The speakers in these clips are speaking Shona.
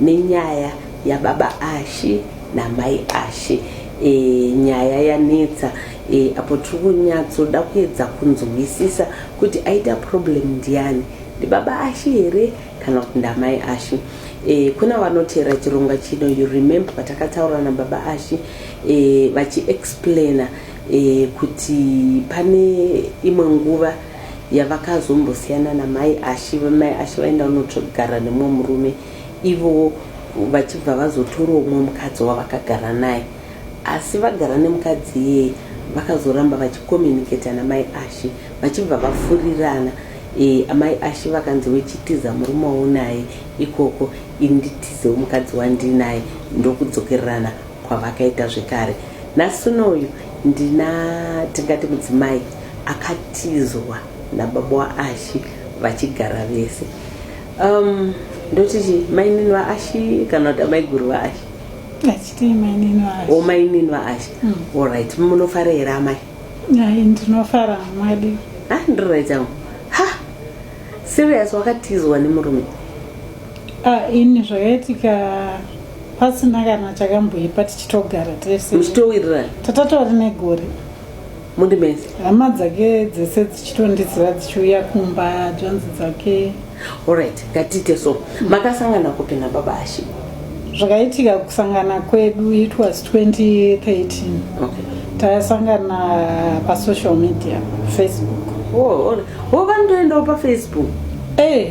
Nenyaya yababa Ashy namai Ashy e, nyaya yanetsa e, apo tiri kunyatsoda kuedza kunzwisisa kuti aita problem ndiani ndibaba Ashy here kana kuti ndamai Ashy e, kuna vanoteera chirongwa chino you remember patakataura nababa Ashy e, vachiexplaina e, kuti pane imwe nguva yavakazombosiyana namai ashi vamai ashi vaenda unotsvogara nemumwe murume ivowo vachibva vazotorawo umwe mukadzi wavakagara naye asi vagara nemukadzi iyeye vakazoramba vachikomunicata namai ashi vachibva vafurirana e, amai ashi vakanzi wechitiza murume waunaye ikoko inditizewo mukadzi wandinaye ndokudzokererana kwavakaita zvekare nhasi unoyu ndina tingati mudzimai akatizwa nababa waashi vachigara vese um, ndoti chi mainini vaashi kana kuti amaiguru vaashi o mainini vaashi hmm. allright munofara here amai ndinofara mwadi ha ndiririt angu ha serious wakatizwa nemurume ah, ini zvakaitika pasina kana chakamboipa tichitogara tese muchitowirirana tatatori negore muri mese hama dzake dzese dzichitondiziva dzichiuya kumba dzvanzi dzake orit ngatiite so makasangana kupi nababa ashe zvakaitika kusangana kwedu it was 2013 okay. tasangana pasocial media facebook oh, oh, oh, vandoendawo pafacebook e hey.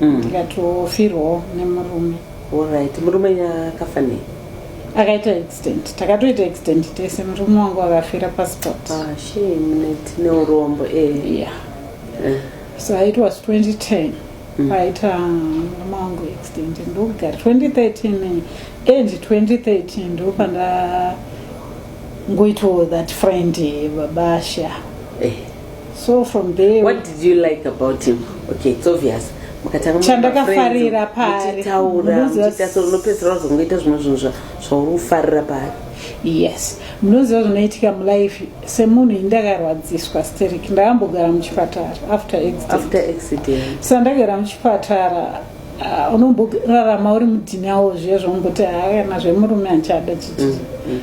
mm. tikatofirwawo nemurume orit murume akafa nei akaita accident takatoita accident tese murume wangu akafira pasport ah, neurombo eh. yeah. Eh. so it was 2010 mm. aita murume wangu accident ndokugara 2013 end 2013 ndopanda ngoitawo that friend babasha eh. so from there what did you like about him okay it's obvious chandakafarira paariunopedzisira wazongoita zvimwe zvinhu zvauri kufarira paari yes munoziva zvinoitika mulife semunhu indakarwadziswa sterik ndakambogara muchipatara after accident sa ndagara muchipatara ah, unomborarama uri mudhinawo zviya zvaumboti haana zvemurume achada chiti mm, mm.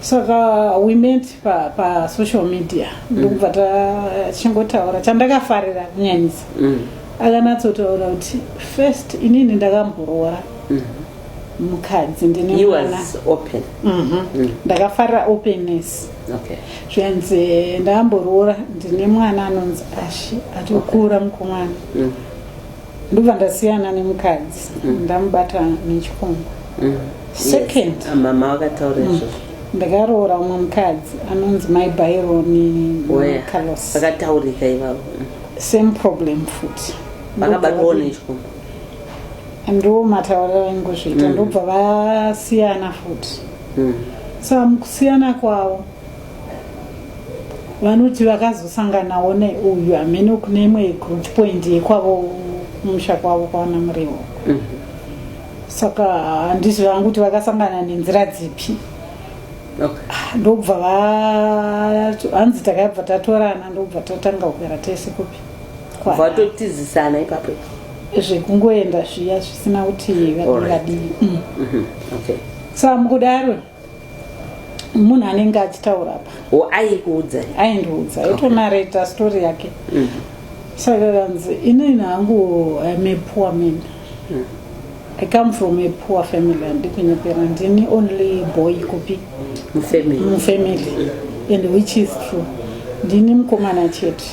saka we met pa, pa social media mm. ndokubva tachingotaura chandakafarira kunyanyisa mm. akanatsotaura kuti first inini ndakamboroora mm. mukadzi ndinemwana mhm. mm. ndakafarira openness zvikanzi ndakamboroora ndine mwana anonzi ashi atokura mukomana ndobva ndasiyana nemukadzi mm. ndamubata nechikomba mm. second ah, mama vakataura mm. izvozvo ndakaroora umwe mukadzi anonzi mai baironi carlos vakataurika ivavo same problem futi vakabatwawo nechikomba ndo matauriro aingozviita ndobva vasiyana futi so mukusiyana kwavo vanoti vakazosanganawo neuyu hameno kune imwe group point yekwavo kumusha kwavo kwaana muriwo mhm. saka handizvo vangu kuti vakasangana nenzira dzipi ah, ndobva hanzi takabva tatorana ndobva tatanga kugara tese kupi vatotizisana ipapo zvekungoenda zviya zvisina kuti vadii vadii mm. mhm. sa mukudaro munhu anenge achitaura apa o aikuudza aindiudza aitonareta okay. story yake mm. saka kanzi inini hangu im a poor man mm. i come from a poor family andikunyepera ndini only boy kupi mufamily mm. mm. and which is true ndini mukomana chete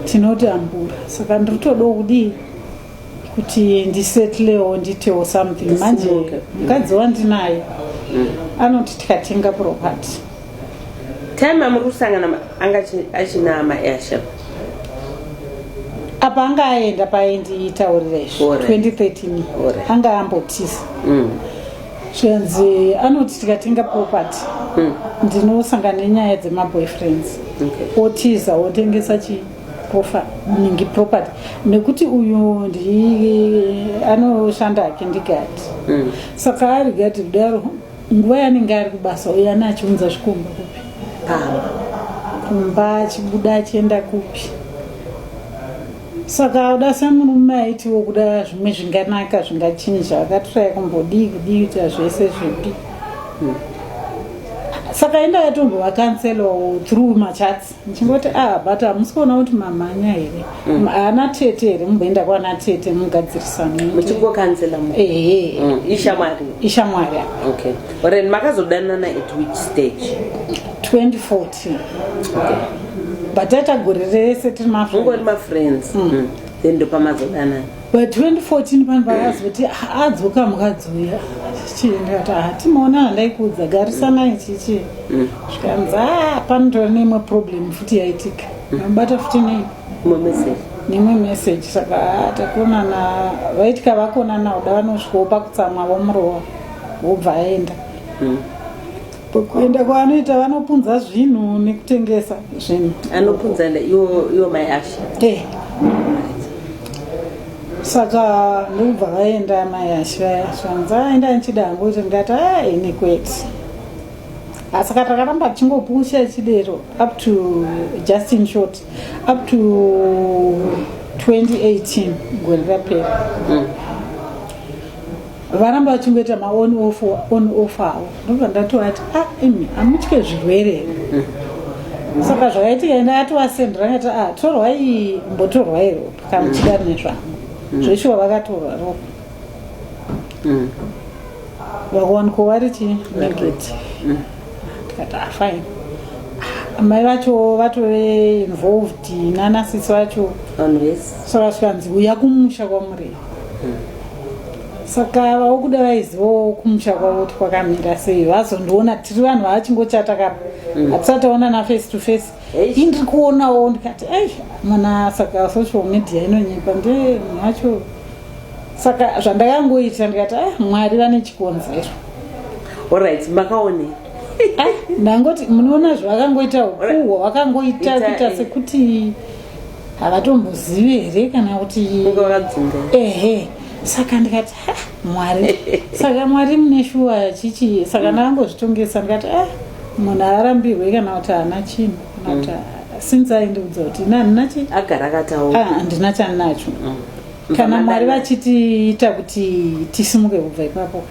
tinoti ambura saka ndiri todo kudii kuti ndisetlewo nditewo something manje mukadzi wandinaye mm. anoti tikatenga property time amuri kusangana anga achina maasha apa anga aenda paendiitaurira izvo 2013 anga ambotisa mm. zvikanzi anoti tikatenga property mm. ndinosangana nenyaya dzemaboyfriends otiza otengesa chii profa ningi property nekuti uyu ndi anoshanda hake ndigati mm. saka ari gati kudaro nguva yanenge ari kubasa uyo ane achiunza zvikomba kupi pamba kumba achibuda achienda kupi saka uda semurume aitiwo kuda zvimwe zvinganaka zvingachinja akatiraya kumbodii kudii kuita zvese zvipi mm. saka enda yatombovakanselawo through machats ndichingoti ah but hamusi kuona kuti mamhanya here mm. ana tete here mumboenda kwana tete mugadzirisanomuchingokanzela ehe mm. ishamwari ishamwari okay ren makazodanana at which stage 2014 okay. but aita gore rese tiri mafriends mm. mm. then ndopamazodanana By 2014 vanhu vakazoti adzoka mukadzi uya chichiendati hatimaona ah, handaikuudza garisanai chichi mm. zvikanzi a ah, panotora neimwe problem futi yaitika mabata mm. futi nei neimwe message saka ah, takonana vaitika vakonana uda vanosvikawo pakutsamwa vomurova wobva aenda mm. kuenda kwaanoita vanopunza zvinhu nekutengesa zvinhu anopunza iwo mai asha eh. saka ndokubva vaenda mai asha vaya zvanza aenda ndichida hangu kuti ndikati a ah, ini kwete asi ka takaramba tichingopusha chidero up to just in short up to 2018 gore rapera mm. varamba vachingoita maon off on off awo ndobva ndatovati ah imi amutye zvirwere saka zvakaitika ende atovasendera ngati ah torwai mbotorwai ropa kana muchida rine zvangu zveshuwa vakatorwa ropa Mm. vakawanikwa vari chii negative tikati ah fine Ah, mai vacho vatove involved nanasisi vacho Vanhu vese. so vasikanzi uya kumusha kwamurei saka vaokuda vaizivawo kumusha kwavo kuti kwakamira sei vazondiona tiri vanhu vavachingochata kapa mm. hatisati taona naface to face indiri kuonawo ndikati ei mana saka social media inonyepa nde munhu wacho saka zvandakangoita ndikati a ah, mwari vane chikonzero orit makaone ah, ndangoti munoona zvakangoita ukuhwa wakangoita kuita eh. sekuti havatombozivi here kana kuti ehe saka ndikati mwari saka mwari mune shuwa chichi saka ndakangozvitongesa ndikati a munhu arambirwe kana kuti haana chinhu kana kuti mm. since aindiudza kuti ina handina chi agara akataura ah, handina chandinacho mm. kana mwari vachitiita kuti tisimuke kubva ipapo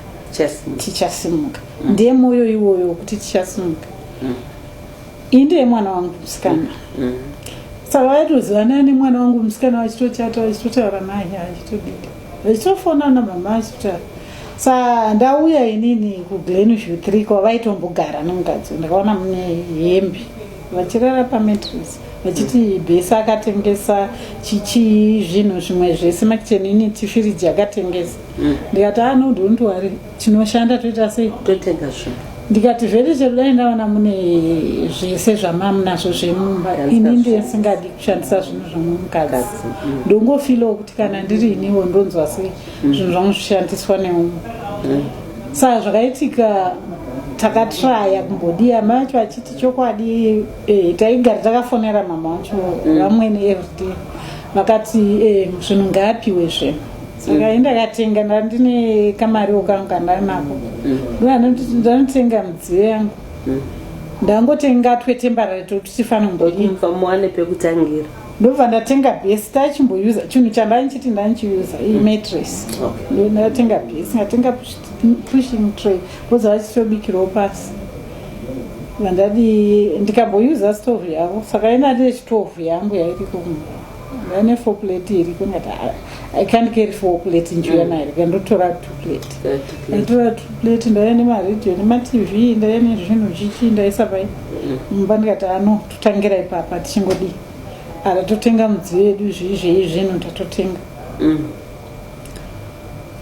tichasimuka mm. ndiye mwoyo iwoyo wekuti tichasimuka iyi ndeye mwana wangu musikana mm. saka vaitozivana nemwana wangu musikana vachitochata vachitotaura naye achitodida vachitofona namama achitotaura sa ndauya inini kuglenview three kwa vaitombogara nemukadzi ndakaona mune hembe vachirara pamatris vachiti bhesi akatengesa chichii zvinhu zvimwe zvese makicheni ini tifiriji akatengesa mm. ndikati anodontiwari ah, tinoshanda toita sei totega zvinhu ndikati zvete chero dai ndaona mune zvese zvamamu nazvo zvemumba ini ndisingadi kushandisa zvinhu zvemumukadzi mm. ndongofilawo kuti kana ndiri iniwo ndonzwa sei mm. zvinhu zvangu zvishandiswa neumwe mm. saa zvakaitika takatraya kumbodii amai acho achiti chokwadi eh, taigara takafonera mama wacho vamwene everyday vakati eh, zvinhu ngaapiwe zve saka enda katenga ndandine kamariwo kangu kandari nako mm. ndandotenga midziyo yangu mm. ndangotenga twetembarare totichifana mboiva muwane pekutangira ndobva ndatenga bhesi tachimboyuza chinhu chandanichiti ndanichiuza iyi mm. matres ndatenga bhesi ndatenga pushing tray boza vachitobikirawo pasi vandadi ndikamboyuza stove yavo saka inati yechitove yangu yairiko Vane four plate iri kungati ah, I can't carry four plate njuya mm. nairi kandotora two plate. Ndatora two plate ndaiya nemaradio nematv ndaiya nezvinhu chichi ndaisa pai. Mm. Mumba ndikati ano ah, totangira ipapa tichingodii. Ara totenga mudziyo yedu zvii zvei zvinhu tatotenga. Mm.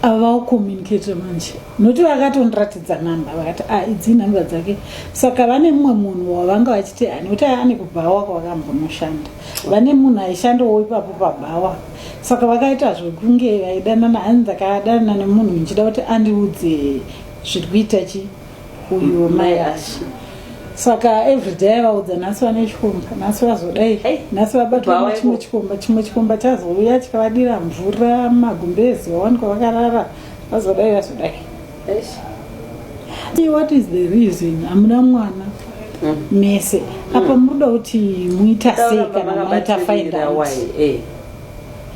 Ava vakucommunicate manje nokuti vakatondiratidza nhamba vakati a ah, idzi nhamba dzake saka vane mumwe munhu wavanga vachiti ani kuti ane kubhawa kwavakambonoshanda vane munhu aishandawo ipapo pabhawa saka vakaita zvekunge vaidanana ani ndakadanana nemunhu ndichida kuti andiudze zviri kuita chi uyu mai ashi saka everyday vaudza nhasi vane chikomba nhasi vazodai Hey. nhasi vabatwa Bhawa nechimwe iko. chikomba chimwe chikomba chazouya chikavadira mvura magumbezi vawanikwa vakarara vazodai vazodai what is the reason hamuna mwana hmm. mese hmm. apa muruda kuti muita sei kana maita faindaai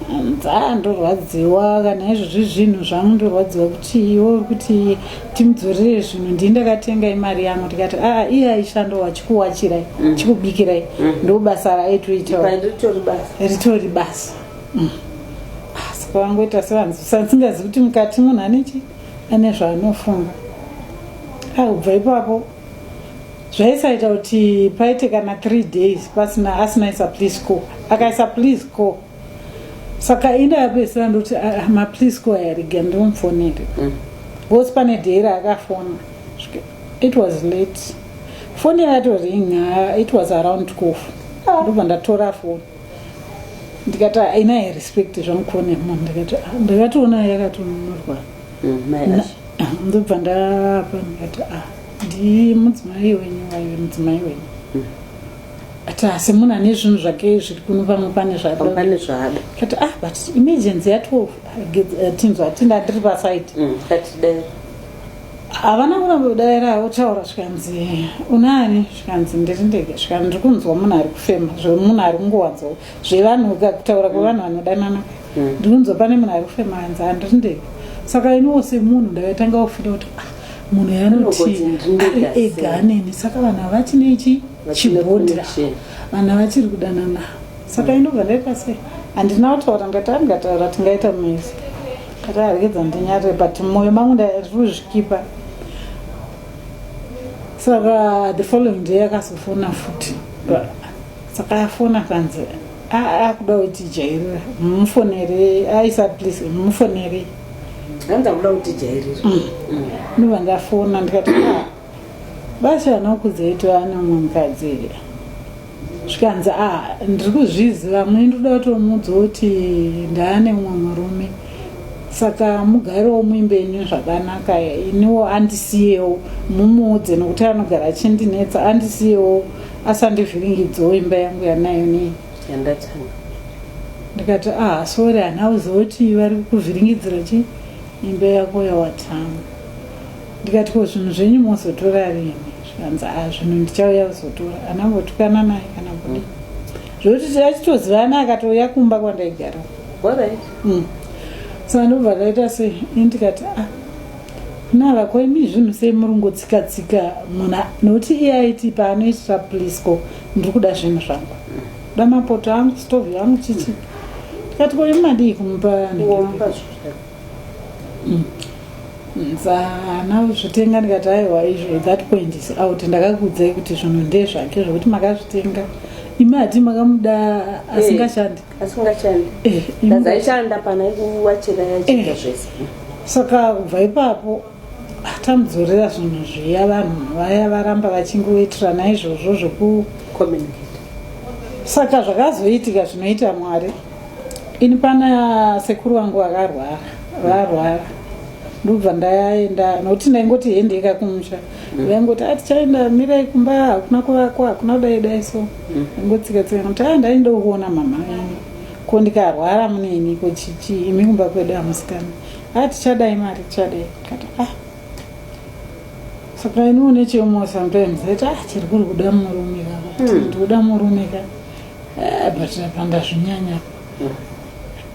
nzaa ndorwadziwa kana izvozvi zvinhu zvangu ndorwadziwa kuti iwo uri kuti timudzorere zvinhu ndii ndakatenga imari yangu ndikati aa ah, iye aishando wachikuwachirai mm. chikubikirai mm. ndobasa raitoita ritori basa mm. asi kwavangoita sevanzisingazi kuti mukati munhu anechi ane zvaanofunga akubva ah, ipapo zvaisaita kuti paite kana three days pasina asina isa please co akaisa please co saka inda yapesera ndoti ah, ah, maplease co ayariga ndimupfonere mm. bcause pane day raakafona it was late foni yakato ring it was around cof ndobva ndatora foni ndikati haina ah, respect zvamukuonea mom ndikati ah, ndakatoona yakatonunurwa mm, ndobva ndapa ndikati a ndi mudzimai wenyu waive mudzimai wenyu mm. ati asi munhu ane zvinhu zvake zviri kuno pamwe pane zvadapane zvaada kati ah but emergency ya twelve tinzwa tinda ndiri pasaidi mm, havana kuramba kudaira votaura zvikanzi unani zvikanzi ndiri ndege zvikanzi ndiri kunzwa munhu ari kufema zvemunhu ari kungowanza zvevanhu ka kutaura kwevanhu vanodanana mm. ndiri kunzwa pane munhu ari kufema anzi handiri ndege saka iniwo semunhu ndakatanga kufira kuti ah, munhu yanoti ega aneni saka vanhu havati nechi chibhodira vanhu havachiri kudanana saka mm. inobva ndaita sei handina kutaura ndati angataura tingaita mese Ndakaregedza ndinyarire but moyo mangu ndari kuzvikipa. Saka the following day akazofona futi. Saka afona kanzi akuda kuti jairira mufonere aisa please mufonere. Hanzi akuda kuti jairira. Mm. Mm. Ndobva ndafona ndikati ah, basi vanokudzai tovane mumwe mukadzi here. zvikanzi a ah, ndiri kuzviziva mune ndikuda kutomuudza kuti ndaane mumwe murume saka mugarewo muimbe ini zvakanaka iniwo andisiyewo mumuudze nokuti anogara achindinetsa andisiyewo asandivhiringidzewo imba yangu yanayo nei ndikati ah sori hana uziva kuti vari kuvhiringidzira chii imba yako yawatanga ndikati ko zvinhu zvenyu mozotora rini zvikanzi a ah, zvinhu ndichauya kuzotora anambotukana naye kana kudii zvokuti tachitozivana akatouya kumba kwandaigara mm. so ndobva kaita se indikati a ah, nava ko imi zvinhu sei muri ngotsikatsika muna nokuti iye aiti paanoitira plisco ndiri kuda zvinhu zvangu da mapoto angu stovi yangu chichi ndikati ko imi madii kumupa Mm. Ndakazvitenga ndikati aiwa izvo that point is out ndakakuudzai kuti zvinhu ndezvake zvekuti makazvitenga imi hati makamuda asingashandi eh, asingashandi eh, ndazaishanda pana kuwachira yachita eh. zvese saka kubva ipapo tamudzorera zvinhu zviya vanhu vaya varamba vachingoitirana izvozvo zveku saka zvakazoitika zvinoita mwari Ini pana sekuru wangu vakarwara varwara ndobva ndaenda nokuti ndaingoti hendeka kumusha mm. vaingoti ati ah, chaenda mirai kumba hakuna kuvakwa hakuna kudai dai so mm. ngotsika tsika kuti a ah, ndainda kuona mama venyu ko ndikarwara muneni ko chichi imi kumba kwedu amusikana a ah, tichadai mari tichadai kati a saka iniwo necheumwe sometimes ati a chiri kuri kuda murume ka hmm. ndikuda murume ka Ah, but apa ndazvinyanya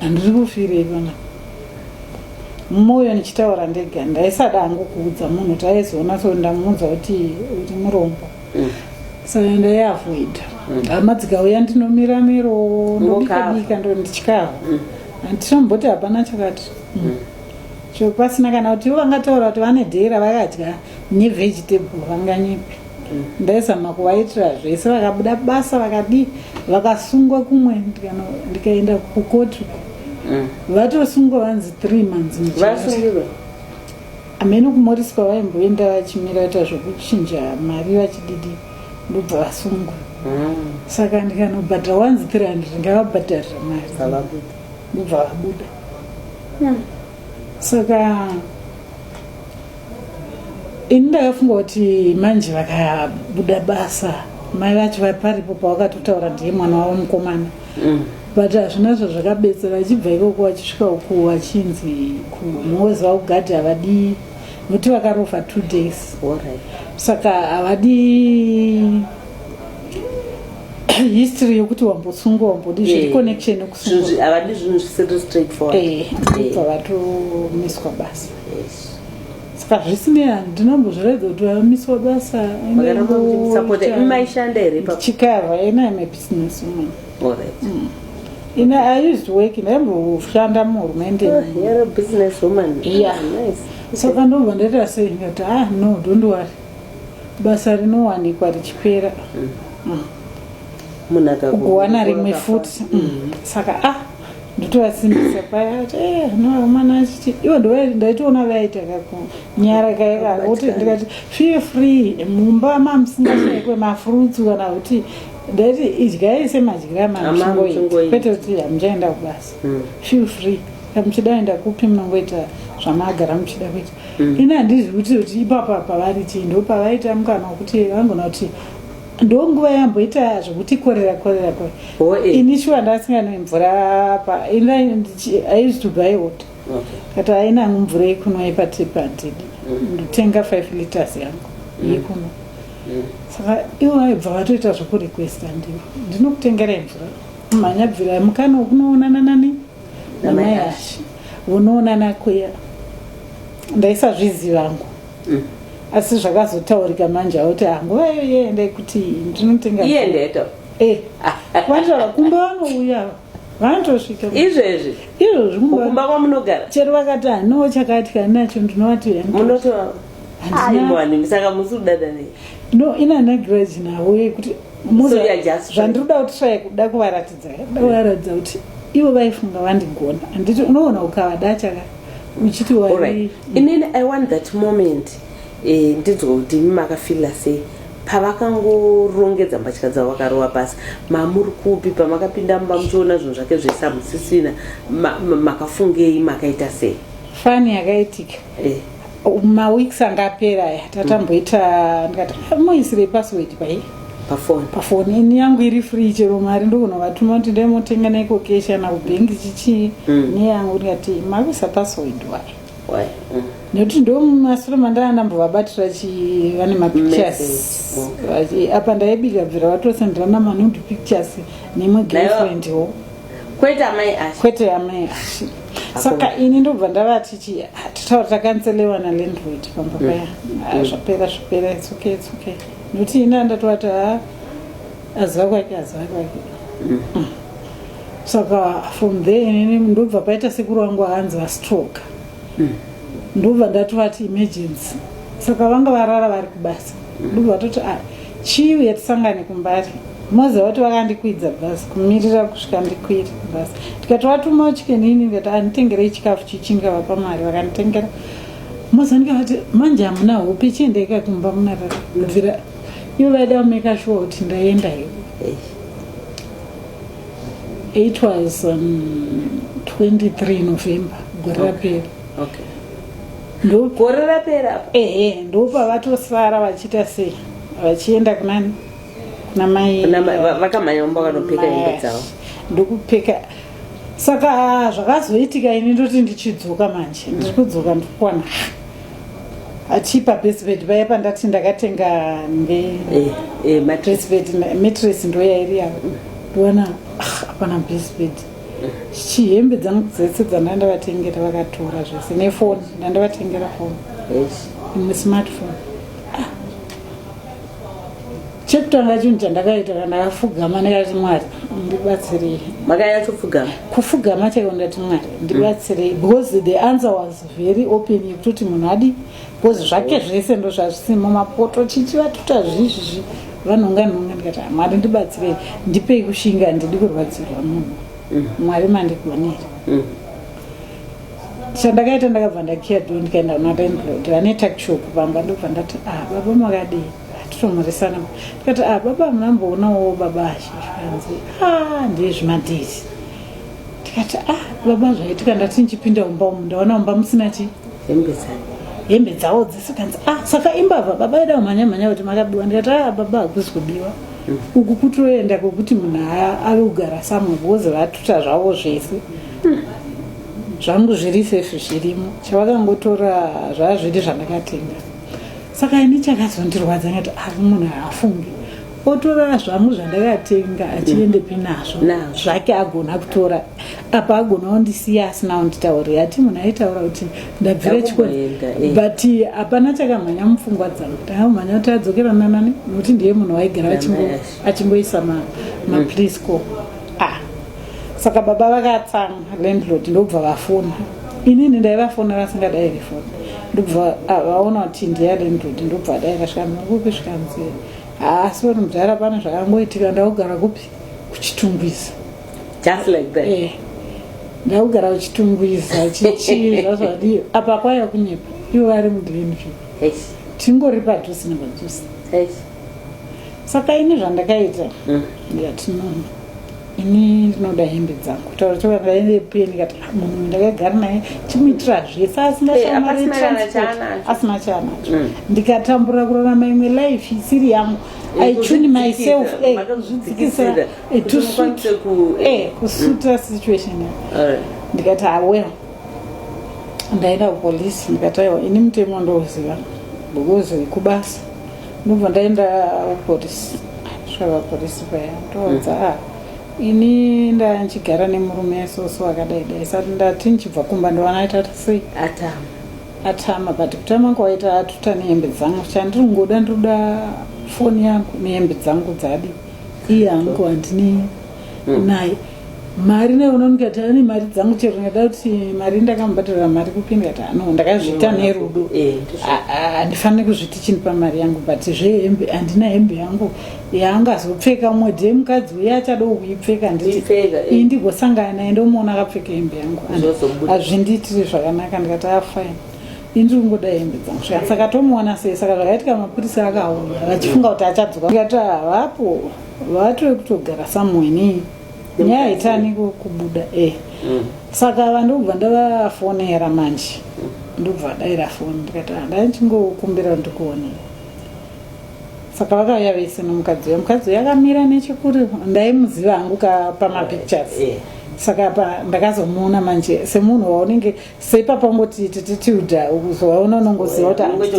handiri kufirei pana mwoyo ndichitaura ndega ndaisada hangu kuudza munhu kuti aizoona so ndamuudza kuti kuti murombo Mm. so ndaiavoida hama dzikauya ndinomira miro Mokava. ndobikabika ndo ndichikava handitomboti hapana chakati chopasina kana kuti ivo vangataura kuti vane dhera vakadya nevegetable vanganyepi ndaizama kuvaitira zvese vakabuda basa vakadii vakasungwa kumwe ndikaenda kukoti mm. vatosungwa vanzi three months vasungirwa amene kumoriswa vaimboenda vachimira ta zvekuchinja mari vachididi ndobva vasungwa mm. saka ndikanobhadhara wanzi three hundred ngavabhadharira mari ndobva vabuda mm. saka ini ndakafunga kuti manje vakabuda basa mai vacho vaparipo pawakatotaura ndiye mwana wavo mukomana mm. but hazvina zva zvakabetsera achibva ikoko vachisvika uku vachinzi kumhozi vakugadhi havadii nokuti vakarofa two days saka havadii history yokuti wambosungwa wambodi zviri eh, connection yokusungwa havadi zvinhu zvisiri straightforward eh, eh. pavatomiswa basa saka zvisinei handinambozviraidza kuti vamiswa basa maishanda here chikava ena im a business woman mm. ina i used work ndaimboshanda muhurumende ah, ah, saka ndobva ndaita sei ndikati ah no don't worry basa rinowanikwa richipera mm. mm. kuwana rimwe futi mm. saka ah ndotovasimbisa paya ati eh, no mwana achiti ivo ndaitoona vaita kakunyara kaivavoti ndikati feel free mumba mamusingashaikwe mafruits kana kuti ndaiti idyai semadyira mamuchingoiti kwete kuti hamuchaenda kubasa hmm. feel free kamuchida enda kupi munongoita zvamagara muchida kuita hmm. ini handizi kuti kuti ipapa pavari chii ndo pavaita mukana wekuti vangona kuti ndonguva yamboita zvekuti korera korera ko ini shuwa ndasinganoi mvura paaizvitubaiwota kati aina mvura yekunwa ipati pandidi mm. ndotenga five liters yangu mm. yekunwa mm. saka ivo vaibva vatoita zvekurequesta ndivo ndinokutengerai mvura mhanyabvira mukana wekunoonana nani namai ashi unoonana kuya ndaisazvizivangu asi zvakazotaurika manje auti ah, nguva iyo yeenda ikuti ndinotenga iyendeto eh, wataura kumba vanouya vanotosvika izvezvi izvozvi kumba kwamunogara chero vakati hanoo chakati kani nacho ndinovati munotoaimboanimi saka musi kudada nei no inanagiraji navo yekuti zvandinoda kuti try kuda kuvaratidza kuda kuvaratidza kuti ivo vaifunga vandigona handiti unoona ukavada chaka uchiti wari inini i want that moment eh, ndinzwa kuti imi makafila sei pavakangorongedza mbatya dzavo vakarova pasi mamuri kupi pamakapinda mumba muchiona zvinhu zvake zvese amusisina makafungei makaita sei fani yakaitika eh. maweeks anga apera aya tatamboita mm. ndikati ah, moisirei password pai pafoni pafoni ini yangu iri free chero mari ndogona vatuma kuti ndai motenga naiko keshi kana kubhengi chichii mm. neyangu ndikati makuisa password wai why mm. nekuti ndo masure mandanga ndambovabatira chi vane mapictures apa ndaibika bvira vatosenderana manude pictures nemwe girlfriend wo kwete amai ashi kwete amai ashi saka ini ndobva ndavati chii ah, totaura takanselewa nalandroid pamba mm. paya ah, mm. zvapera zvapera its okay its okay nokuti ini andatovati ha ah, aziva kwake aziva kwake mm. saka from there inini ndobva paita sekuru wangu aanzi vastroke ndobva ndati vati emergency saka vanga varara vari kubasa ndobva vatoti a ah, chii uye tisangane kumbari moza vati vakandikwidza bhasi kumirira kusvika ndikwiri bhasi ndikati vatumawo chikenini ndikati anditengerei chikafu chichi ndikavapa mari vakanditengera moza ndikavati manje hamuna hope chiendeika kumba munarara bvira ivo vaida kumeka shuwa kuti ndaenda ivo It was um, 23 November gore rapera. Okay. Ndo gore rapera. Ehe, ndo pavatosara vachita sei? Vachienda kunani? Kuna mai. Kuna mai vakamanyomba vanopfeka hembe dzavo. Ndokupfeka saka zvakazoitika ini ndoti ndichidzoka manje ndiri kudzoka ndikuwana achipa basebed vaya pandati ndakatenga ngebasebed eh, eh, matres ndo yairi yavo ndoona ah, hapana basebed chichi hembe dzangu dzese dzanda ndavatengera vakatora zvese nefoni ndandavatengera foni imwe smartphone ah. chekutanga chinhu chandakaita kana ndakafugama ndikati mwari ndibatsirei makanyatso fugama kufugama chaiwo ndati mwari ndibatsirei because the answer was very open yekutoti munhu adi because zvake zvese ndo zvazvisimo mapoto chichi vatuta zvizvizvi vanhonga nhonga ndikati ah, mwari ndibatsirei ndipei kushinga handidi kurwadzirwa munhu mm. mwari mandigonera mm. chandakaita ndakabva ndakiya do ndikaenda kuna landlord vane takshop vamba ndobva ndati ah baba makadii titomurisana ndikati ah baba munamboonawo baba azvizvanzi ah ndezvimadhisi ndikati ah baba zvaitika ndati ndichipinda mumba umu ndaona mumba musina chi hembe dzangu hembe dzawo dzese kanzi ah saka imbavha baba ida kumhanya mhanya kuti makabiwa ndikati ah baba hakuzi kubiwa mm. uku kutoenda kwekuti munhu ave kugara samwe bhozi vatuta zvavo zvese mm. zvangu zviri sefi zvirimo chavakangotora zvazviri zvandakatenga saka ini chakazondirwadza ngati ari ah, munhu haafungi otora zvangu zvandakatenga achiendepi mm. nazvo zvake agona kutora apa agona ondisiya asina onditaurira ati munhu aitaura kuti ndabvira chikoro eh. but eh, hapana chakamhanya mupfungwa dzangu takamhanya kuti adzokera nanani nokuti ndiye munhu waigara achingoisa maprisco mm. ah. saka baba vakatsamwa landlord ndobva vafona inini ndaivafona vasingadai rifona ndobva ah, vaona kuti ndiya landlord ndobva dai vasvika mukupesvika mzee haa asi vanhu mudhara pana zvakangoitika ndakugara kupi kuchitungwiza just like that eh, ndakugara kuchitungwiza chichii zvazvadii apa kwaiva kunyepa ivo vari mudhlenvi tingori padhusi nepadhusi saka ini zvandakaita mm. ndiyatinono ini ndinoda hembe dzangu taura taura ndaive pie ndikati ah, munhu uyu ndakagara naye chimuitira zvese asingaasina chaanacho mm. ndikatambura kurarama imwe life isiri yangu i tune myself eh, kuzvidzikisa eh, to suit eh, kusuta mm. situation ndikati awel ah, ndaenda kupolice ndikati aiwa ini mutemo ndouziva because kubasa ndobva ndaenda kupolisi kusvika vapolisi paya ndoudza mm. ah, ini ndandichigara nemurume soso akadai dai sati ndati ndichibva kumba ndovana aita sei atama atama but kutama kwaita atuta nehembe dzangu chandiri kungoda ndoda foni yangu nehembe dzangu dzadi iye angu handini mm. naye mari nayo unoona ndikati ane mari dzangu chero ndingada kuti mari ndakamubhadharira mari kupi ndikati ano ndakazviita nerudo Eh, ndizvo. A- a- handifaniri kuzviti chini pamari yangu but zvehembe handina hembe yangu yaanga azopfeka umwe day mukadzi uye achada kuipfeka nditi Kuipfeka, eh. iyi ndigosangana naye ndomuona akapfeka hembe yangu And Zvozobuda. hazvindiitiri zvakanaka ndikati afine ini ndiri kungoda hembe dzangu zvaka saka tomuona sei saka zvakaitika mapurisa akaona vachifunga kuti achadzoka ndikati havapo vatiri kutogara somewhere nei nyaya haitani kubuda e mm. saka vandokubva ndavafonera manje ndokubva daira foni ndikati handai ah, ndichingokumbira ndikuonei saka vakauya vese nomukadzi uya mukadzi uya akamira nechekuri ndaimuziva hangu ka pamapictures eh, eh. saka pa ndakazomuona manje semunhu waunenge seipapa ungoti tititilda uzovaona unongoziva kuti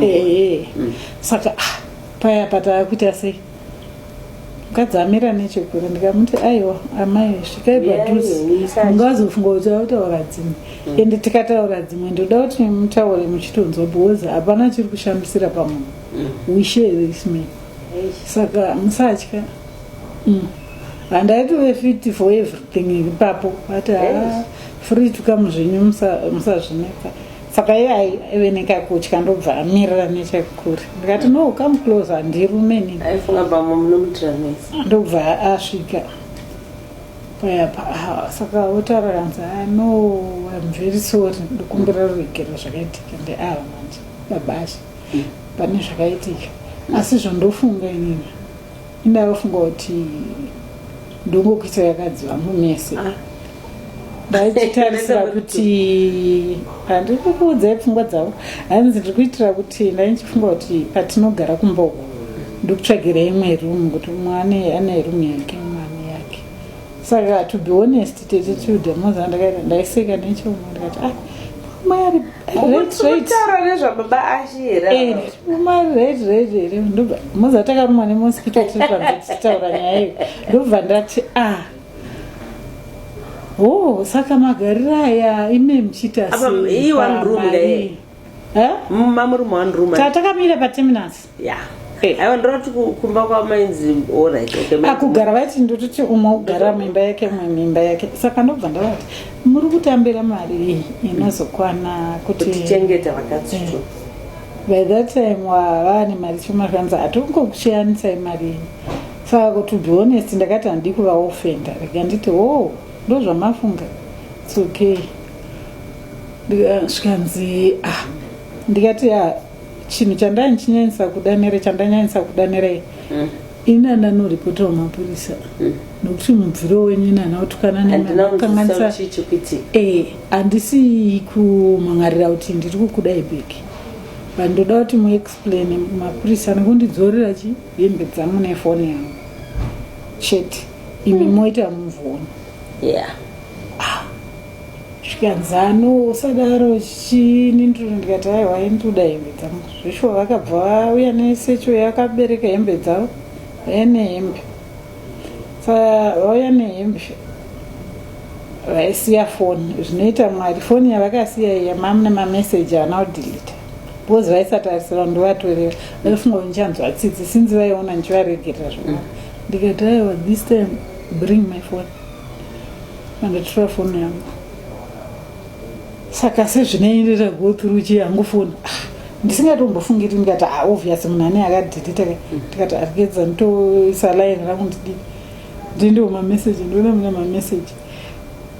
eh, mm. saka ah, paya patava kuita sei mukadzi amira nechekure ndikamuti aiwa amai svikai padhuze munga wazofunga kuti vakutaura dzimwe mm. ende tikataura dzimwe ndoda kuti mutaure muchitonzwa because hapana chiri kushamisira pamunhu mm. we share this man saka musatya mm. handaitove fit for everything ipapo ati ah, free to come zvenyu musazvinetsa musa saka iye aive nekakutya ndobva amirira nechekure ndikati no come close handirume nini aifunga bamwe munomutira mese ndobva asvika paya pa ah, saka wotaura kanzi "Ah, no im very sorry ndikumbira ruregerero zvakaitika ndeava manje babasha pane zvakaitika asi zvondofunga inini Inda wafunga kuti ndongokuita yakadziva mumese ah. ndaitarisira kuti handiri kukuudzai pfungwa dzavo hanzi ndiri kuitira kuti ndaindichifunga kuti patinogara kumba uku ndikutsvagira imwe rumu kuti mwana ane rumu yake mwana yake saka to be honest tete tilda maza ndakaita ndaiseka nechomo ndikati ah mari retara nezvababa ashi here mari rate rate here ndobva maza takarumwa nemosikito tiri panze tichitaura nyaya iyo ndobva ndati ah o oh, saka magarira aya ime muchiita seiiwanrumamurumwanruma tatakamira pateminasi yeah aiwa ndinoti kumba kwamainzi orit akugara vaiti ndototi umwe ugara mimba yake umwe mimba yake saka ndobva ndavati muri kutambira mari inozokwana kutichengeta vakatsito eh. by that time wavaa nemari choma zvanzi hatongokuchiyanisai mari saka kuti be honest ndakati handii kuvaofenda rega nditi wo oh, ndozvamafunga its okay zvikanzi ah ndikati ya ah, chinhu chandaichinyanyisa kuda nere chandanyanyisa kuda nere mm. inana noripota wamapurisa mm. nokuti mubviro wenyu inana otukana nemakanganisa eh, handisi kumhangarira kuti ndiri kukudai beki but ndoda kuti muexplaine mapurisa nekundidzorera chi hembe dzangu nefoni yangu chete imi mm. moita muvoni yeah. zvikanzano usadaro chini ndiro ndikati aiwa ndoda hembe dzangu zvishuwa vakabva vauya nesecho yakabereka hembe dzavo vauya nehembe sa vauya nehembe vaisiya foni zvinoita mwari foni yavakasiya iya mamu nemameseji ana kudhilita because vaisatarisira ndovatorera vaifunga kuti ndichanzwa tsitsi sinzi vaiona ndichivaregerera zvona ndikati aiwa this time bring my foni Vandotora foni yangu saka sezvinei ndita go through chii yangu foni ah, ndisingatombofungiri ndikati ah, obvious munhu ane akadhirita ka ndikati arikeza nditoisa line rangu ndidii ndindiwo mameseji ndiona mune mameseji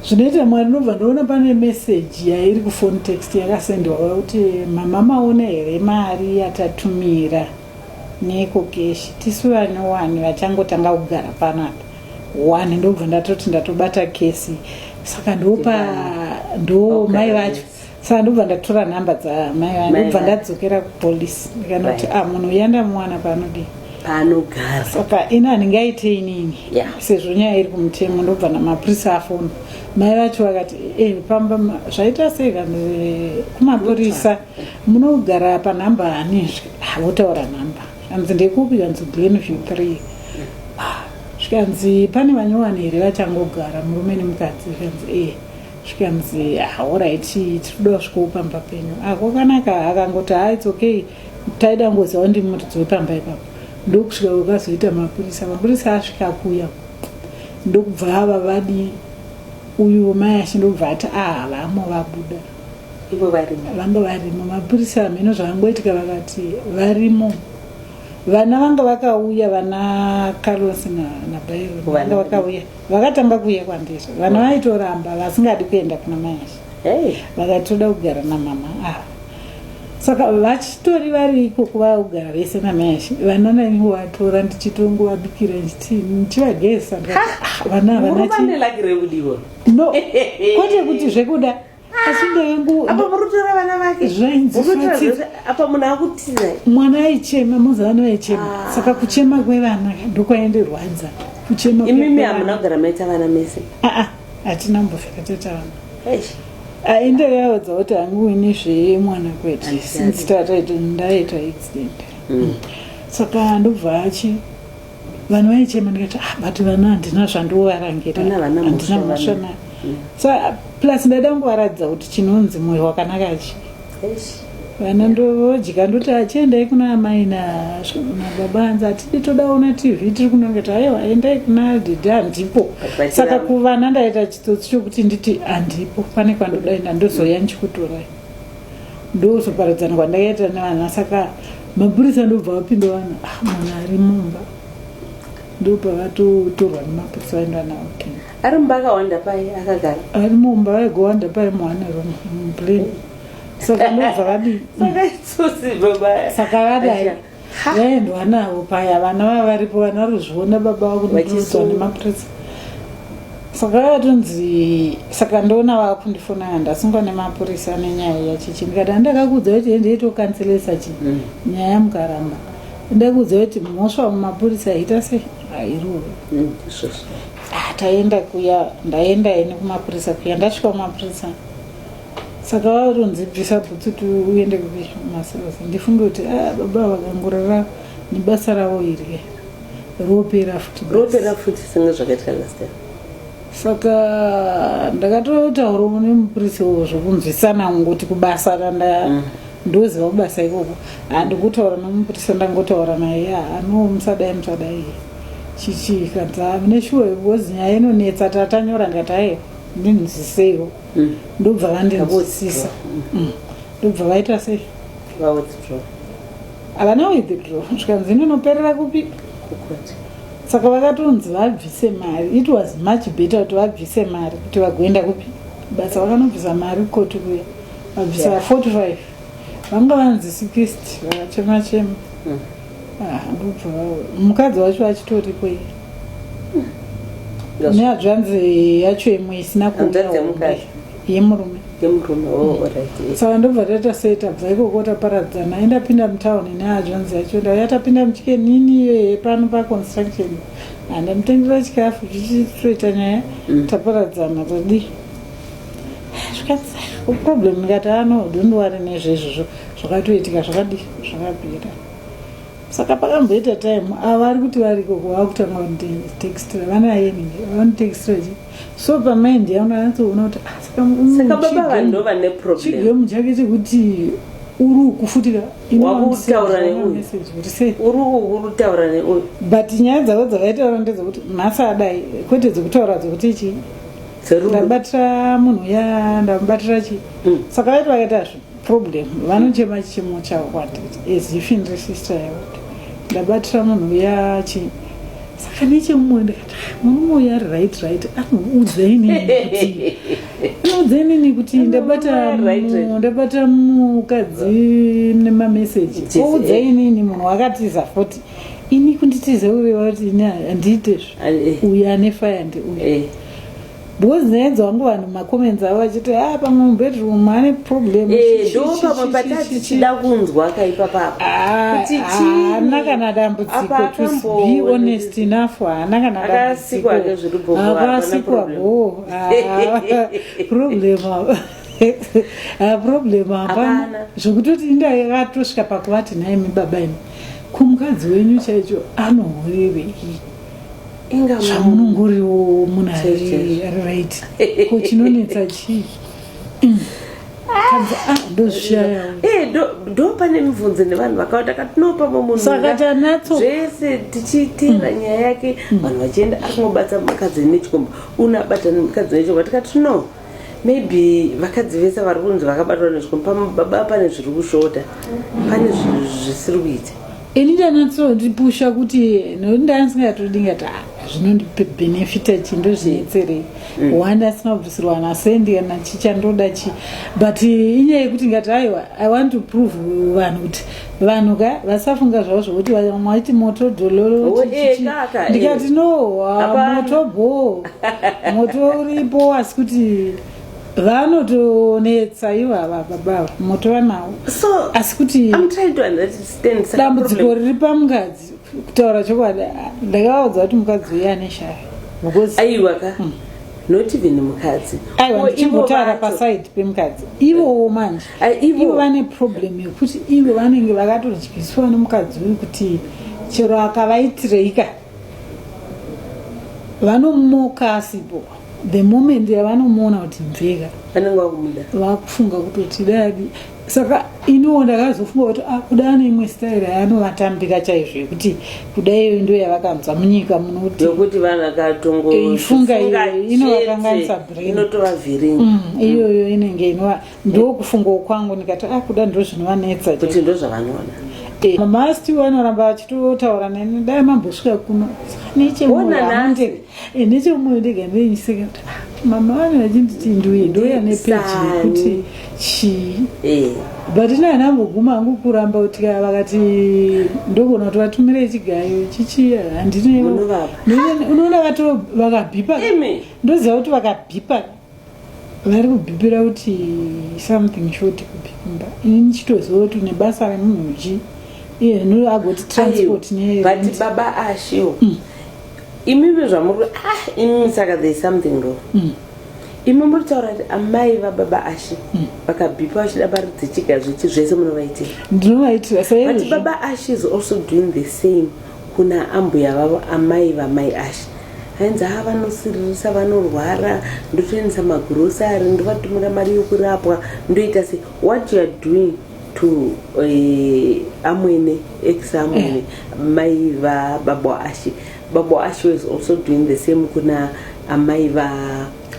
zvinoita mwari nobva ndoona pane meseji yairi kufoni text yakasendewa kuti mama maona here mari yatatumira neko keshi tisu vane wani vachangotanga kugara panapa one ndobva ndatoti ndatobata kesi saka ndopa ndo mai vacho saka ndobva ndatora nhamba dzamai vacho ndobva ndadzokera kupolice ndikanoti a ah, munhu uya ndamuwana paanodii paanogara saka ini handinge aite inini sezvo nyaya iri kumutemo ndobva namapurisa afona mai vacho vakati eh, pamba zvaita sei vanhu eh, kumapurisa munogara panhamba hanizve havotaura nhamba hanzi ndekupi hanzi glenview three ah, zvikanzi pane vanyowani here vachangogara murume nemukadzi zvikanzi ee eh zvikanzi haorit tiri kuda kusvikawo pamba penyu ako ah, kanaka akangoti ha ah, its okay taida ngoziva ndi muridzo wepamba ipapo ndokusvika ukazoita mapurisa mapurisa asvika kuya ndokubva ava vadi uyu mai ashe ndokubva ati a ah, havamo vabuda ivo varimo vanga varimo mapurisa hameno zvakangoitika vakati varimo vana vanga vakauya vana carlos nabairvanga vakauya vakatanga kuuya kwandiri vana vaitoramba vasingadi kuenda kuna mayashi vakatoda kugara namama ava ah. saka vachitori vari ikoko vakugara vese namayashi vana naniwo vatora ndichitongovabikira ndichivagezisa ah, vana havanachiivo no kwete kuti zvekuda asi ndoyangu apa murutora vana vake Zvainzi Murutora fatidza. zvese- apa munhu akutiza mwana aichema mazuva ano aichema saka kuchema kwevana ndokwaendirwadza kuchema kwe- imimi kwevana. hamuna kugara maita vana mese Ah, ah, hatina mbofika tatawana Eish. aende vaudza kuti hangu ini zvemwana kwete Handisati. since tataita ndaita accident saka ndobva achi vanhu vaichema ndikati ah but vana handina zvandivovarangira handina mhosva nayo mm. so plus ndaida kungovaratidza kuti chinonzi mwoyo wakanaka chi vana ndovodya ndoti achiendai kuna amai nababa hanzi hatidi todaona tv tiri kunongeti aiwa endai kuna didi handipo saka kuvana ndaita chitsotsi chokuti nditi handipo pane kwandodaenda ndozoya ndichikutorai ndokuzoparadzana kwandakaita nevana saka mapurisa ndobva vapinda vanhu ah, mwana ari mumba ndopavatotorwa nemapurisa vaenda navo ari mumba akawanda pai akagara ari mumba vaigowanda pai muhane room muplan saka ndobva vadii saka vadai vaendwa navo paya vana vava varipo vana ruzviona baba vako nekurudzwa nemapurisa saka vatonzi saka ndoona vava kundifonana ndasungwa nemapurisa nenyaya yachichi ndikati andakakuudza kuti endeitokanselesa chi mm. nyaya mukaramba ndakuudza kuti mhosva mumapurisa yaita se hairuwe mm, ah, taenda kuya ndaenda ini kumapurisa kuya ndasvika kumapurisa saka varonzi bvisa bhutsu kuti uende kupi masozi ndifunge kuti ah, baba vakangorara nebasa ravo iri ropera futi ropera futi senge zvakaitwa last time saka ndakatotaurawo nemupurisi wo zvokunzwisana ngoti kubasa kanda mm. ndoziva kubasa ikoko handikutaura nemupurisi ndangotaura naye ya ano musadai musadai chichii kanza mune shuwa because nyaya inonetsa tatanyora ndikati aye ndinzwiseiwo mm. ndobva vandinzwisisa mm. ndobva vaita sei havana withdraw zvikanzi inonoperera kupi saka vakatonzi vabvise mari it was much better kuti vabvise mari kuti vagoenda kupi basa vakanobvisa mari koti kuya vabvisa yeah. 45 vanga vanzi sikist vakachema chema hmm. ah, ndobva mukadzi wacho achitoripo iye hmm. neadzvanzi yacho imwe isina kuuya yemurume yemurume oh, hmm. saka ndobva taita sei tabva ikoko taparadzana aindapinda mutown neadzvanzi yacho ndauya tapinda muchikenini iyoye pano paconstruction andamutengera chikafu chichitoita nyaya taparadzana tadii zvikanzi problem ndikati ano ah, don't worry nezvezvozvo zvakatoitika zvakadi zvakapera saka pakamboita time ava ah, ari kuti variko vakutanga kunditextra vanaye nini vanotextra chi so pamind yaona anatsoona kuti ah, saka baba vanhu ndo vane problem chigemu chake chekuti uri kufutira urikutaura neuyu but nyaya dzavo dzavaitaura ndedzokuti nhasi adai kwete dzekutaura dzokuti chii ndabatira munhu uya ndamubatira chii mm. saka vaiti vakaita zvi problem vanochema chichemo chavo kwati as if ndiri sister yavo ndabatira munhu uya chii saka nechemumwe ndikati ah, murume uyo ari right right anoudzayi nini anoudzayi nini kuti ndabata mukadzi nemameseji oudzayi nini munhu wakatiza foti ini kunditiza ureva kuti ini handiitezvo eh. uyo ane faya ndiuyo eh. because nyaya dzavangu vanhu macomments avo vachiti a ah, pamwe mubedroom ane problem eh, ndo pamwe patati chida kunzwa kaipa papakuti ah, haana kana dambudziko to be honest enough haana kana dambudzikoakasikwa bo ah, problem problem hapana zvokutoti ndakatosvika pakuvati nhaimi baba imi kumukadzi wenyu chaicho anohurevei zvamunongoriwo munhu ari right ko chinonetsa chii ndopane mibvunzo nevanhu vakawanda katinopa mamunhuzvese tichiitira mm. nyaya yake mm. vanhu vachienda akungobatsa mukadzi nechikomba unabatana mukadzi nechikomba tikati no maybe vakadzi vese vari kunzi vakabatwa nezvikomba pamwe baba pane zviri kushota pane zvisiri kuita ini ndanatsoipusha kuti ndandisingatodi ngati ah, zvinondibenefita chi ndozvinetserei mm. one asingabvisirwa nasendi kana chichandoda chi but inyaya yekuti ngati aiwa i want to prove vanhu kuti vanhu ka vasafunga zvavo zvokuti maiti moto dololo eh, ndikati eh. no moto bho moto uripo asi kuti vanotonetsa ivo ava baba moto vanawo asi kuti dambudziko riri pamukadzi kutaura chokwadi ndakavaudza kuti mukadzi uye ane shaya aiwa ka hmm. not even mukadzi aiwa ndichingotara paside pemukadzi ivowo manje Eh, ivo vane problem yekuti ivo vanenge vakatodyiswa nemukadzi uyu kuti chero akavaitireika vanomoka asipo the moment yavanomuona kuti mveka vanenge vakumuda vakufunga kutoti dadi saka iniwo ndakazofunga kuti ah, kuda ane imwe style yaanovatambira chaizvo yekuti kuda iyoyo ndo yavakanzwa munyika munoti yokuti vanhu akatongoifunga inovakanganisa brain inotovavhiringa mm, iyoyo inenge inova ndokufungawo kwangu ndikati a ah, kuda ndo zvinovanetsa kuti ndo zvavanoda eh, mama still anoramba achitotaura neni dai mambosvika kuno nechemoyo ndega ndeinyiseka kuti ah, mama vane vachinditi nduye ndoya nepeji yekuti chii eh. but ina ana amboguma hangu kuramba kuti kaya vakati ndogona kuti vatumire chigayo chichiya handineunoona vato vakabhipa ndoziva kuti vakabhipa vari kubhibhira kuti something short kubhibhimba ini ndichitoziva kuti une basa remunhu ji iye zvino agoti transport but baba ashio mm. imive zvamuri ah imi saka there is something wrong mm. imi muri taura kuti amai vababa ashi mm. vakabhipa vachida mari dzechiga zvechi zvese munovaitira ndinovaitira saizvi baba ashi is also doing the same Kuna ambuya vavo amai vamai Ashe ainzi haa vanosiririsa vanorwara ndotoendesa magrocery ndovatumira mari yokurapwa ndoita se what you are doing to uh, amwene ex amwene eh. mai vababo ashe babo ashe was also doing the same kuna amai va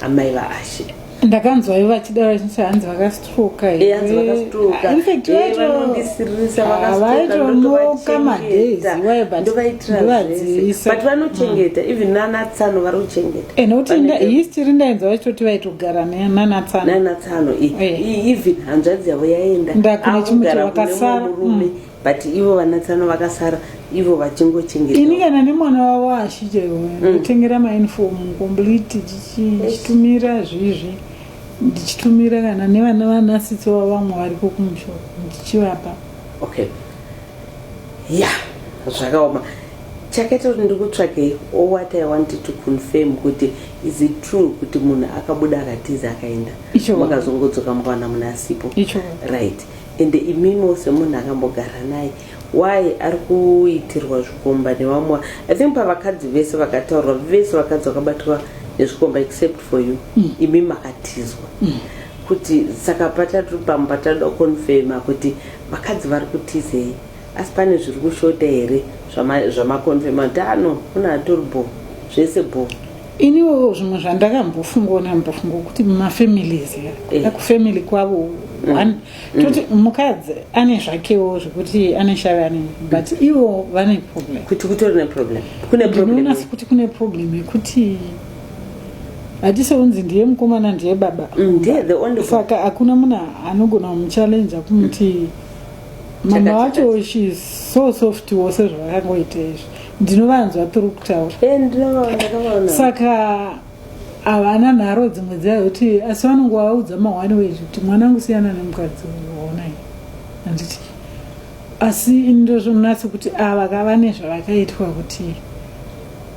amai vaashe ndakanzwa ivo vachidaro vachinzi hanzi vakastroka vaitonoka madaysivaivadzivaisabat vanochengeta even nanatsano vari kuchengeta eh, nokuti history ndainzwa vachitoti vaitogara nanatsano even hanzvadzi yavo yaenda ndakune chimutiro vakasara but ivo vanatsano vakasara ivo vachingochengeta ini kana nemwana wavo ashichero ndotengera mm. mainfomu complete chichitumira zvizvi ndichitumira kana nevana vanasitsi vavo vamwe variko kumusho ndichivapa okay ya zvakaoma chakaita kuti ndikutsvake all what i wanted to confirm kuti is it true kuti munhu akabuda akatiza akaenda makazongodzoka mukawana munhu asipo right Ende imimo semunhu akambogara naye why ari kuitirwa zvikomba nevamwe i think pavakadzi vese vakataurwa vese vakadzi vakabatwa nezvikomba except for you mm. imi makatizwa mm. kuti saka patatu pamwe patatoda kuconfirma kuti vakadzi vari kutizei asi pane zviri kushota here zvamaconfirma kuti ano ah, kuna atori bho zvese bho iniwo zvimwe zvandakambofungawo nambofunga kuti mumafamilies eh. aku family kwavo mm. one mm. toti mukadzi ane zvakewo zvekuti ane shave ane but mm. ivo vane problem kuti kutori neproblem kune problema kuti kune problem yekuti hatisounzi ndiye mukomana ndiye baba saka hakuna munhu anogona kumuchallenja kumuti mama wacho she so soft wo sezvavakangoita izvi ndinovanzwa tiri kutaura eh, saka havana nharo dzimwe dzai kuti asi vanonge vaudza mahwani wezvi kuti mwana angu siyana nemukadzi onai handiti asi ndozvonatsi kuti ava kava nezvavakaitwa kuti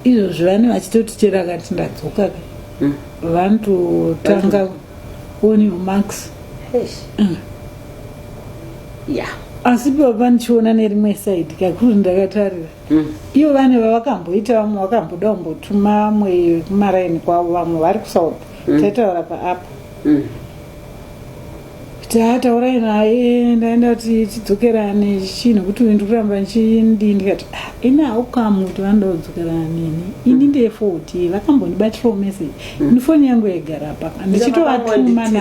izvozvi vane vachitoti chero akati ndadzoka ka hmm. vanototanga onimax yeah asi baba ndichiona nerimwe side kakuru ndakatarira mm. ivo vane vavakamboita vamwe vakamboda kumbotuma vamwe kumaraini kwavo vamwe vari kusouth mm. taitaura paapo mm. tataurai naye ndaenda kuti tidzokerane chii nekuti uyu ndikuramba ndichindii ndikati ah, ini haukamu kuti vanoda kudzokerana neni ini mm. ndefoti vakambondibatirawo message mm. ini foni yangu yaigara paka ndichitovatuma na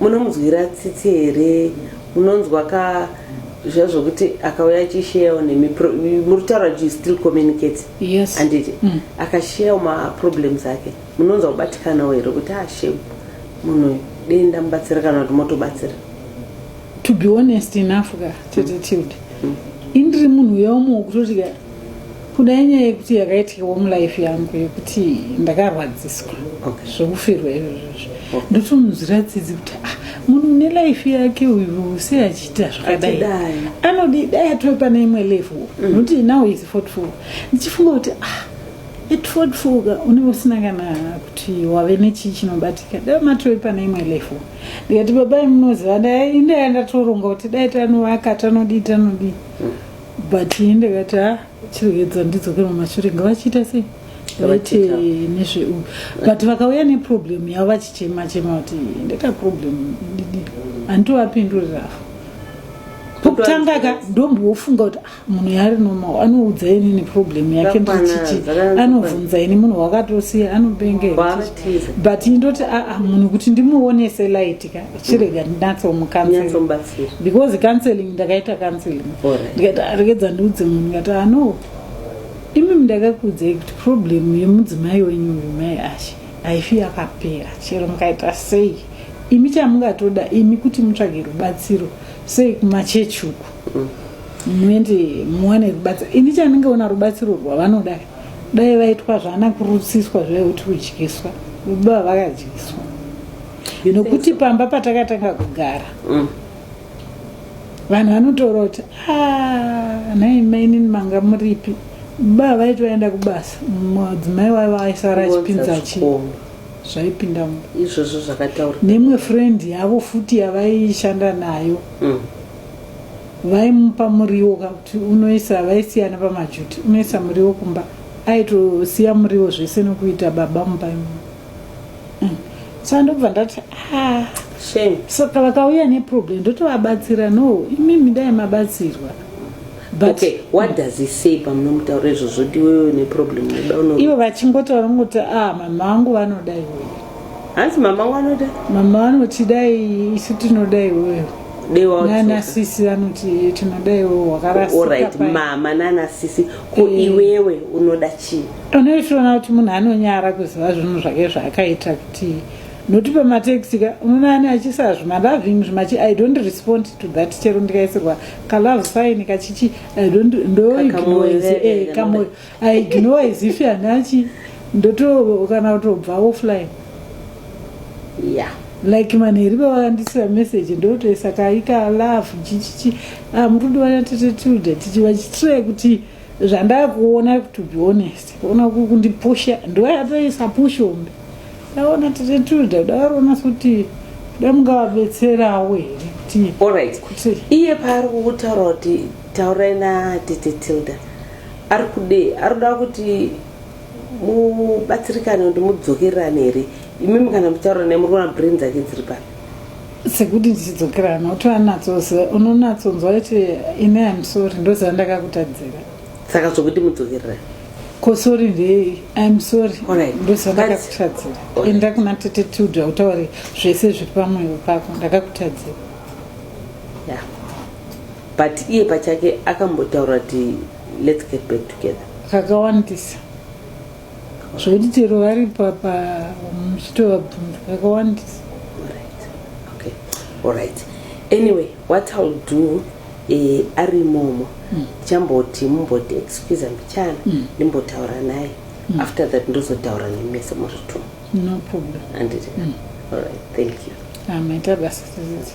munomunzwira tsitsi here munonzwa ka zviya zvokuti akauya achisheyawo nemi pro- muri kutaura kuti you still communicate Yes. handiti Mm. akasheyawo maproblems ake munonzwa kubatikanawo here kuti ah shame munhu uyu dei ndamubatsira kana kuti motobatsira to be honest enough ka tete tilde indiri munhu uya umwe wekutoti ka kuda inyaya yekuti yakaitikawo mulife yangu yekuti ndakarwadziswa okay. zvokufirwa izvozvozvo okay. ndotomunzwira tsitsi kuti ah, munhu une life yake uyu sei achiita zvakadai anodii dai atove pane imwe level mm. nokuti mm. now is fortful ndichifunga kuti ah, etfodfoga unenge usina kana kuti wave nechii chinobatika dai matove pane imwe level ndikati babai munoziva ndai ndaya ndatoronga kuti dai tanovaka tanodii tanodii mm. but ini ndakati ha chirwedza ndidzoke mamashure ngavachiita sei vaite nezveu but vakauya neproblem yavo vachichema chema kuti ndeka problem didi handitovapendurirafo pokutanga ka ndombofunga kuti ah, munhu yaari normal anoudza ini neproblem yake ndichichi anobvunza ini munhu wakatosiya anobenge but indoti aa ah, ah, munhu kuti ndimuonese light ka chirega ndinatsomukanzira because counseling ndakaita counseling ndikaita ah, regedza ndiudze munhu ndikati ano ah, imi mndakakuudzai kuti problem yemudzimai wenyu uyu mai ashe haifi yakapera chero mukaita sei imi chamungatoda imi kuti mutsvage rubatsiro sei kumachechi uku mm. muende muwane rubatsiro ini chandinge ona rubatsiro rwavanoda dai vaitwa zvana kurutsiswa zvekuti udyiswa baba vakadyiswa nokuti pamba patakatanga kugara mm. vanhu vanotaura kuti ah, nhai mainini manga muripi baba vaiti vaenda kubasa mudzimai waiva aisara achipinza chi zvaipinda izvozvo zvakataura nemwe friend yavo futi yavaishanda nayo mm. vaimupa muriwo kakuti unoisa vaisiyana pamajuti unoisa muriwo kumba aitosiya muriwo zvese nokuita baba mumba imomo saka ndobva ndati ah. saka vakauya neproblem ndotovabatsira no imimi dai mabatsirwa ivo vachingotaura ngoti a ah, mama vangu vanoda iwewe hanzi mama wangu vanoda mama vanoti dai isu tinoda iwewe nanasisi vanoti tinoda iwewe wakarasika mama nanasisi ko mm. iwewe unoda chii pane uchiona kuti munhu anonyara kuziva zvinhu zvake zvaakaita kuti noti pamateksi ka unoona ani achisa zvimaloving zvimachi i don't respond to that chero ndikaisirwa kalove sign kachichi i don't ndoignoise eh, kamoyo i ignore as if anachi ndoto kana kutobva offline yeah like manheri vavandisira message ndotoisa kaika love chichichi ah, murundi wana tete tilde tichi vachitire kuti zvandakuona to be honest ona kundipusha ndoyatoisa pushombe ndaona tete tilde kuda varoona kuti da mungavabetserawo here kuti alright kuti iye paari kukutaura kuti taurai na tete tilda ari kudei ari kuda kuti mubatsirikane kuti mudzokererane here imimi kana muchitaura naye muri kuona brain dzake dziri pari sekuti ndichidzokerana utoanatsoziva unonatsonzwa kuti ine amsori ndoziva ndakakutadzira saka zvokuti mudzokererane kosori ndei amsori ndoziva ndakakutadzira enda kuna tete tilda utaure zvese zviri pamwoyo pako ndakakutadzira yeah but iye pachake akambotaura kuti Let's get back together. Kakawandisa. Zvekuti chero vari papa muchitovabvunza kakawandisa. Alright. Okay. Alright. Anyway, what I'll do eh ari momo. Mm. Chamboti mumboti excuse mbichana mm. ndimbotaura naye. Mm. After that ndozotaura nemese muritu. No problem. Anditi. Mm. Alright. Thank you. Amaita basa sisi.